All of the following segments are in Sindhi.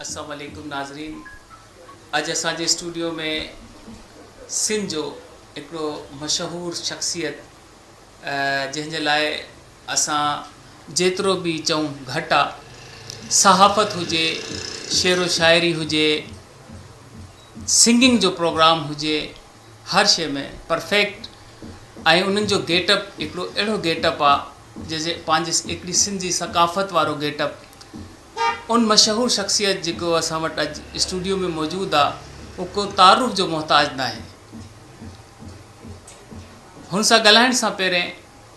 اسلام عليڪم ناظرين اڄ اسان جي اسٽوڊيو ۾ سنڌ جو هڪڙو مشهور شخصيت جنهن جي لاء اسان جيترو به چئون گهٽ آ صحافت هجي شعر و شاعري هجي سنگنگ جو پروگرام هجي هر شي ۾ پرفيڪٽ ۽ انهن جو گيٽ اپ هڪڙو اهڙو گيٽ اپ آ جنهن جي پنهنجي هڪڙي سنڌي ثقافت وارو گيٽ اپ ان مشهور شخصيت جيڪو اسان وٽ اڄ اسٽوڊيو ۾ موجود آ اهو ڪو تعارف جو محتاج ناهي. هن سان ڳالهائڻ سان پهرين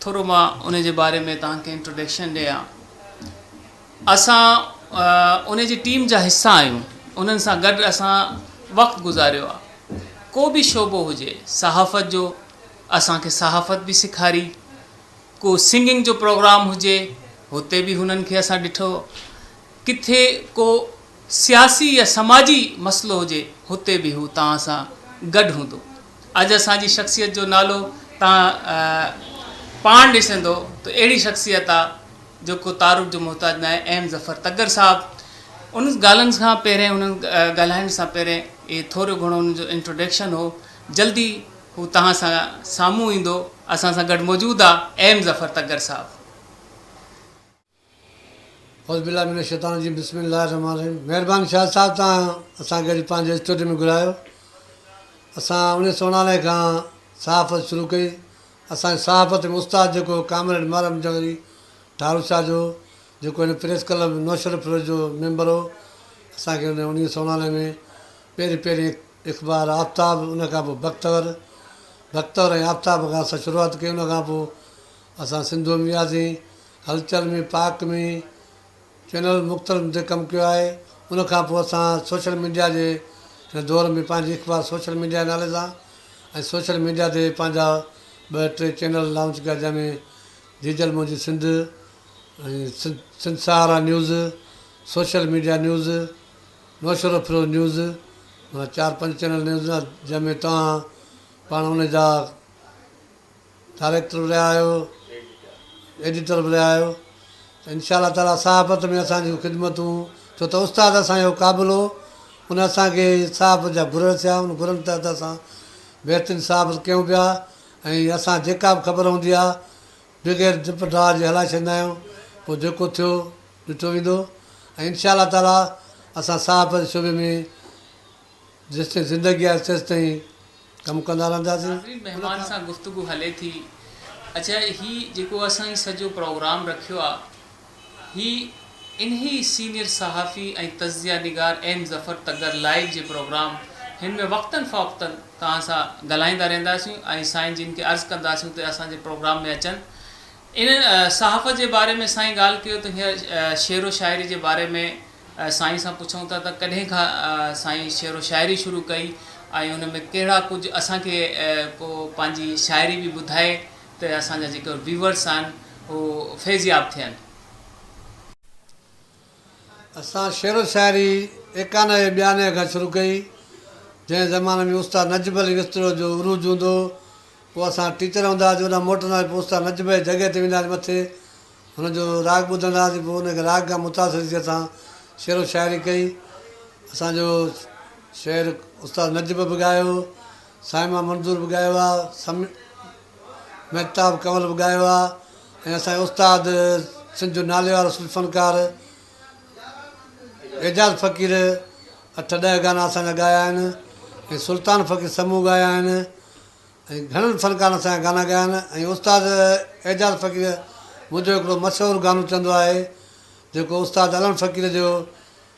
ٿورو مان ان جي باري ۾ توهان کي انٽروڊڪشن ڏيان. اسان ان جي ٽيم جا حصا آهيون انهن سان گڏ اسان وقت گذاريو آ. ڪو به شعبو هجي صحافت جو اسان کي صحافت به سيکاري. ڪو سنگنگ جو پروگرام هجي هتي به هنن کي اسان ڏٺو ڪٿي ڪو سياسي يا سماجي مسئلو هجي هتي به هو توهان سان گڏ هوندو اڄ اسان جي شخصيت جو نالو توهان پاڻ ڏسندو ته اهڙي شخصيت آ جو ڪو تعارف جو محتاج ناهي ايم ظفر تگڙ صاحب انهن ڳالهن کان پهرين انهن ڳالهائڻ سان پهرين اهي ٿورو گهڻو انهن جو انٽروڊڪشن هو جلد ئي هو توهان سان سامهون ايندو اسان سان گڏ موجود آ ايم ظفر تگر صاحب. اعوذ بالله من الشيطان الرجيم بسم الله الرحمن الرحيم مهربان شاهد صاحب توهان اسان کي اڄ پنهنجي اسٽوڊيو ۾ گهرايو اسان اڻيهه سؤ اناڻوي کان صحافت شروع ڪئي اسان جي صحافت ۾ استاد جيڪو ڪامريڊ محرم جوهري ٺارو شاهه جو جيڪو هن پريس ڪلب نوشهروفروش جو ميمبر هو اسان کي هن اڻيهه سؤ اناڻوي ۾ پهرين پهرين اخبار آفتاب ان کان پوء بختور، بختور ۽ آفتاب کان اسان شروعات ڪئي ان کان پوء اسان سنڌوء ۾ وياسين، هلچل ۾ پاڪ ۾ چينلن مختلفن تي ڪم ڪيو آهي ان کان پوء اسان سوشل ميڊيا جي هن دور ۾ پنهنجي اخبار سوشل ميڊيا نالي سان ۽ سوشل ميڊيا تي پنهنجا ٻه ٽي چينل لانچ ڪيا جنهن ۾ Jijal Moji Sindh ۽ Sindh Sahara news, social media news, Musharraf Feroz news معنيٰ چار پنج چينل نيوز جنهن ۾ توهان پاڻ ان جا ڊائريڪٽر به رهيا آهيو ايڊيٽر به رهيا آهيو ته انشاء الله تعالٰي صحافت ۾ اسان جون خدمتون ڇو ته استاد اسان جو قابل هو ان اسانکي صحافت جا گر رسيا ان گرن تحت اسان بهترين صحافت ڪيون پيا ۽ اسان جيڪا به خبر هوندي آهي بغير ڊپ ڊاء جي هلائي ڇڏيندا آهيون پوء جيڪو ٿيو ڏٺو ويندو ۽ انشاء الله تعاليٰ اسان صحافت جي شعبي ۾ جيستائين زندگي آهي تيستائين ڪم ڪندا رهنداسين. ناظرين مهمان سان گفتگو هلي ٿي اچا هي جيڪو اسان هي سڄو پروگرام رکيو آ هي انهي سينيئر صحافي ۽ تجزيه نگار ايم ظفر تڳر لائيو جي پروگرام هن ۾ وقتن فوقتن توهان سان ڳالهائيندا رهنداسين ۽ سائين جن کي عرض ڪنداسين ته اسان جي پروگرام ۾ اچن انهن صحافت جي باري ۾ سائين ڳالهه ڪيو ته هينئر شعر و شاعري جي باري ۾ سائين سان پڇون ٿا ته ڪڏهن کان سائين شعر و شاعري شروع ڪئي ۽ ان ۾ ڪهڙا ڪجهه اسان کي ڪو پنهنجي شاعري به ٻڌائي ته اسان جا جيڪي ويورس آهن هو فيضياب ٿين. اسان شعر و شاعري ايڪانه ۽ ٻيانه کان شروع ڪئي جنهن زماني ۾ استاد نجب علي وسطڙو جو عروج هوندو هو پوء اسان ٽيچر هوندا هئاسين اوڏانهن موٽندا هئاسين پوء استاد نجب جي جڳهه تي ويندا هئاسين مٿي هن جو راڳ ٻڌندا هئاسين پوء ان کي راڳ کان متاثر ٿي اسان شعر و شاعري ڪئي اسان جو شعر استاد نجب به ڳايو صائمه منظور به ڳايو آ، سم مهتاب ڪنول به ڳايو آ ۽ اسان جي استاد سنڌ جو ناليوارو صوفي فنڪار اعجاز فقير اٺ ڏهه گانا اسان جا ڳايا آهن ۽ سلطان فقير سمون ڳايا آهن ۽ گهڻن فنڪارن اسان جا گانا ڳايا آهن ۽ استاد اعجاز فقير منهنجو هڪڙو مشهور گانو چوندو آهي جيڪو استاد علڻ فقير جو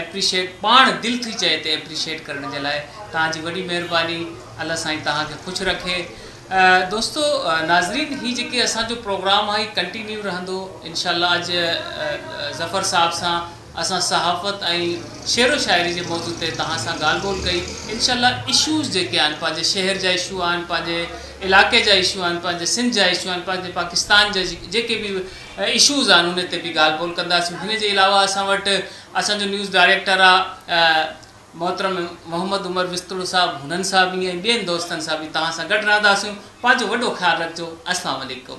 ايپريشيٽ پاڻ دل ٿي چئي تي ايپريشيٽ ڪرڻ جي لاء توهان جي وڏي مهرباني الله سائين توهان کي خوش رکي دوستو ناظرين هي جيڪي اسان جو پروگرام آهي هي ڪنٽينيو رهندو انشاء الله اڄ ظفر صاحب سان اسان صحافت ۽ شعر و شاعري جي موضوع تي توهان سان ڳالهه ٻولهه ڪئي انشاء الله اشوز جيڪي آهن پنهنجي شهر جا اشو آهن پنهنجي علاقي جا اشو آهن پنهنجي سنڌ جا اشو آهن پنهنجي پاڪستان جا جيڪي به اشوز آهن ان تي به ڳالهه ٻولهه ڪنداسين هن جي علاوه اسان وٽ اسان جو نيوز ڊائريڪٽر آ محترم محمد عمر وسطڙو صاحب هنن سان به ۽ ٻين دوستن سان به توهان سان گڏ رهنداسين پنهنجو وڏو خيال رکجو السلام عليڪم.